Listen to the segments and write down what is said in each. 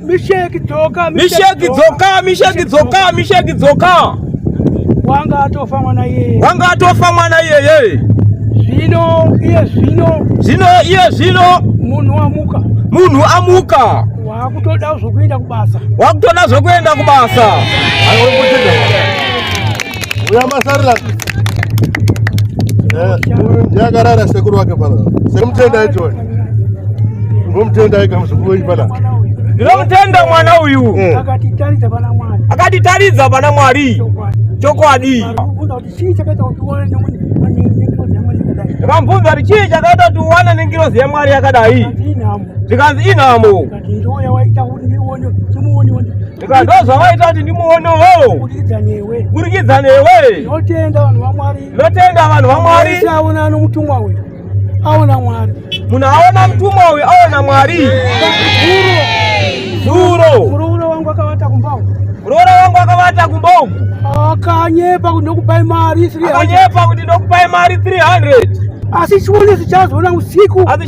Misheki dzoka, misheki dzoka, misheki dzoka, misheki dzoka. Wanga atofa mwana iyeye, wanga atofa mwana iyeye. Zvino iye zvino, zvino iye zvino, munhu amuka, munhu amuka. Wakutoda zvokuenda kubasa, wakutoda zvokuenda kubasa. uya masarira eh, uyu ndiye akarara sekuru wake pala sekumutendai toni ngomutendai kamuzukuru pala ndinomutenda mwana uyu eh. akatitaridza pana mwari chokwadi vambvunza kuti chii chakaita kuti uwane nengirozi yemwari yakadai zvikanzi inhamo Saka ndozvavaita kuti ndimuonewo. Burikidza newe. Burikidza newe. Ndinotenda vanhu vaMwari. Ndinotenda vanhu vaMwari. Wese aona anomutumwa uyu. Aona Mwari. Munhu aona mutumwa uyu aona Mwari. Zuro. Muroora wangu akavata kumba uku. Muroora wangu akavata kumba uku. Akanyepa kuti ndokupai mari 300. Akanyepa kuti ndokupai mari 300. Asi chione zichazoona usiku. Asi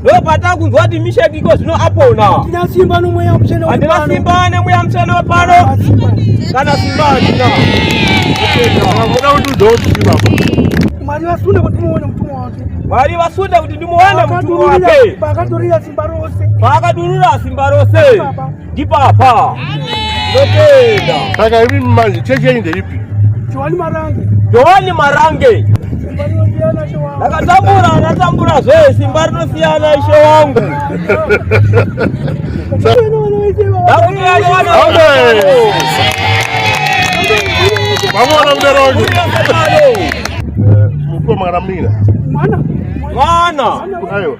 ndopata kunzwa kuti misheki iko zvino apona handina simba nemweya mutsvene handina simba nemweya mutsvene wepano kana simba handina vakuda kuti udokutivapa mwari vasunde kuti muone mutumwa wake mwari vasunde kuti ndimuone mutumwa wake paakatorira simba rose paakadurura simba rose ndipapa ndotenda saka imi manje chechi yenyu ndeipi johani marange johani marange ndakatambura anatambura zvee simba rinosiyana ishe wangu vamona mudero wangu mukomana mina mwana mwana aiwa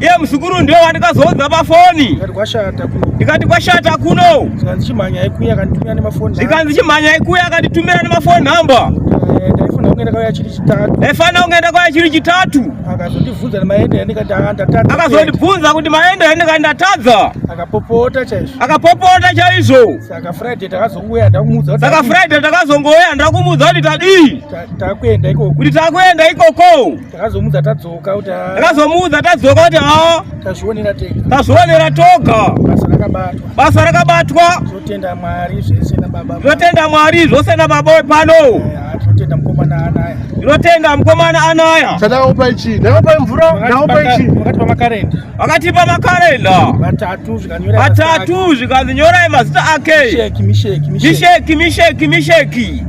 iye muzukuru ndiwe wandikazoudza pafoni ndikati kwashata kuno zvikanzi chimhanya ikuya akanditumira nemafoni zvikanzi chimhanya ikuya akanditumira nemafoni number ndaifanira kungaenda kwaya chiri chitatu akazondibvunza kuti maenda yandikati ndatadza akapopota chaizvo akapopota chaizvo saka friday takazongouya ndakumuudza kuti tadii kuti takuenda ikoko Takazomuudza tadzoka kuti ah. Takazomuudza tadzoka kuti ah. Tazvionera tega. Tazvionera toga. Basa rakabatwa. Basa rakabatwa. Totenda Mwari zvese na baba. Totenda Mwari zvose na baba pano. Totenda mkomana anaya. Totenda mkomana anaya. Tadaupa ichi. Tadaupa mvura. Tadaupa ichi. Wakati pa makarenda. Wakati pa makarenda. Batatu zvikanyora. Batatu zvikanyora mazita ake. Misheki misheki misheki. Misheki misheki misheki.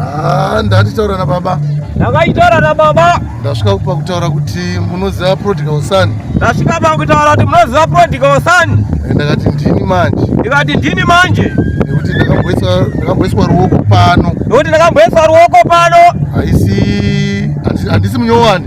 Ah, ndati taura na baba. Ndakaitaura na baba. Ndasvika kupa kutaura kuti munoziva Prodigal Son. Ndasvika pa kutaura kuti munoziva Prodigal Son. Eh, ndakati ndini manje. Ndikati ndini manje. Nekuti ndakamboiswa ndakamboiswa ruoko pano. Nekuti ndakamboiswa ruoko pano. Haisi handisi munyowani.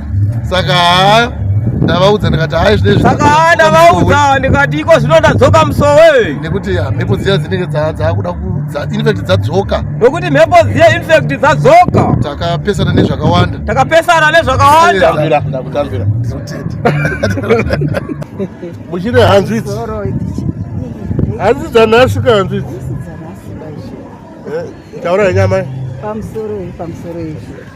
saka haa ndavaudza ndikati hai zvinesaka haa ndavaudza ndikati iko zvino ndadzoka musowe nekuti mhepo dziya dzinenge dzaakuda infact dzadzoka nokuti mhepo dziya infact dzadzoka takapesana nezvakawanda takapesana nezvakawanda muchine hanzvitsi hanzi dzanhasi ka hanzvitsi eh, taura yenyama pamusoro pamusoro izvi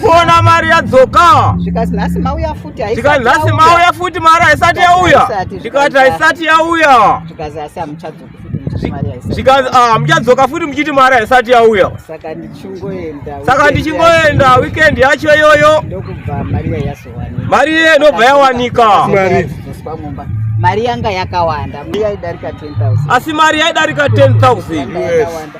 kuona mari yadzoka zvikanzi nhasi mauya futi zvikanzi nhasi mauya futi mari haisati yauya zvikati haisati yauya zvikanzi asi hamuchadzoka zvikanzi ah, muchadzoka futi muchiti mari haisati yauya saka ndichingoenda saka ndichingoenda weekend yacho iyoyo ndokubva mari iya yazowanika mari iye inobva yawanika mari yanga yakawanda mari yaidarika 10000 asi mari yaidarika 10000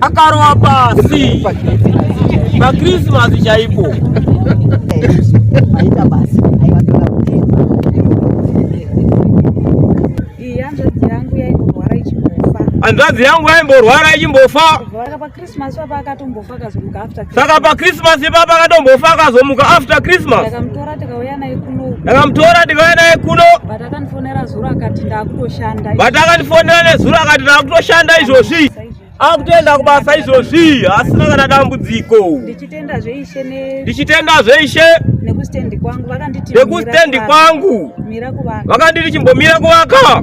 akarowa pasi pakrisimasi chaipo hanzvadzi yangu yaimborwara ichimbofa Christmas papa akatombofa akazomuka after Christmas. Saka pa Christmas papa akatombofa akazomuka after Christmas. Ndakamutora tikauya naye kuno. Ndakamutora tikauya naye kuno. But akandifonera zuro akati ndakutoshanda. But akandifonera nezuro akati ndakutoshanda izvozvi. Akutoenda kubasa izvozvi asina kana dambudziko. Ndichitenda zveishe ne Ndichitenda zveishe nekustendi kwangu vakanditi nekustendi kwangu. Mira kuvaka. Vakanditi chimbomira kuvaka.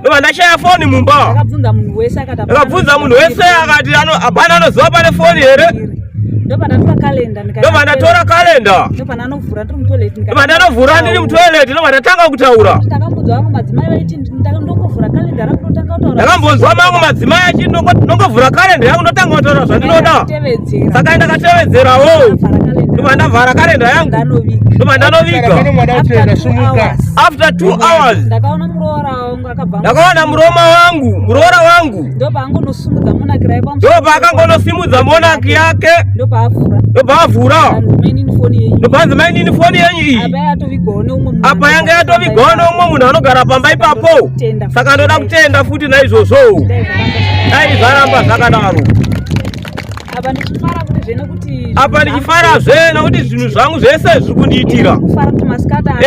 Ndoba ndashaya foni mumba. Akabvunza munhu wese akati akabvunza munhu wese akati hapana anoziva pane foni here? Ndoba ndatora kalenda ndikati. Ndoba ndatora kalenda. Ndoba ndanovhura ndiri mutoilet ndikati. Ndoba ndanovhura ndiri mutoilet ndoba ndatanga kutaura. Ndakambonzwa vamwe madzimai vaiti ndongovhura kalenda yangu ndotanga kutaura. Ndakambonzwa vamwe madzimai achiti ndongovhura kalenda yangu ndotanga kutaura zvandinoda. Saka ndakatevedzerawo. Ndoba ndavhara kalenda yangu. Ndoba ndanoviga. After 2 hours. Ndakaona ndakawana muroma wangu muroora wangu ndopaakangonosimudza monaki yake ndopaavhura ndopanzi mainini foni yenyu iyi apa yanga yatovigwa neumwe munhu anogara pamba ipapo saka ndoda kutenda futi naizvozvo dai zvaramba zvakadaro apa ndichifara kuti zve nekuti apa ndichifara zve nekuti zvinhu zvangu zvese zviri kundiitira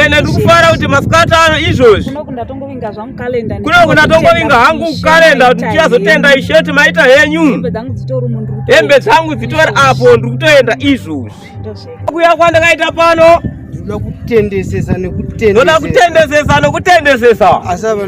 ene ndiri kufara kuti masikati ano izvozvi kuno kundatongovinga hangu kukalenda kuti ndichazotenda isheti maita henyu hembe dzangu dzitori apo ndiri kutoenda izvozvi kuya kwandakaita pano ndoda kutendesesa nekutendesesa ndoda kutendesesa nekutendesesa asi apa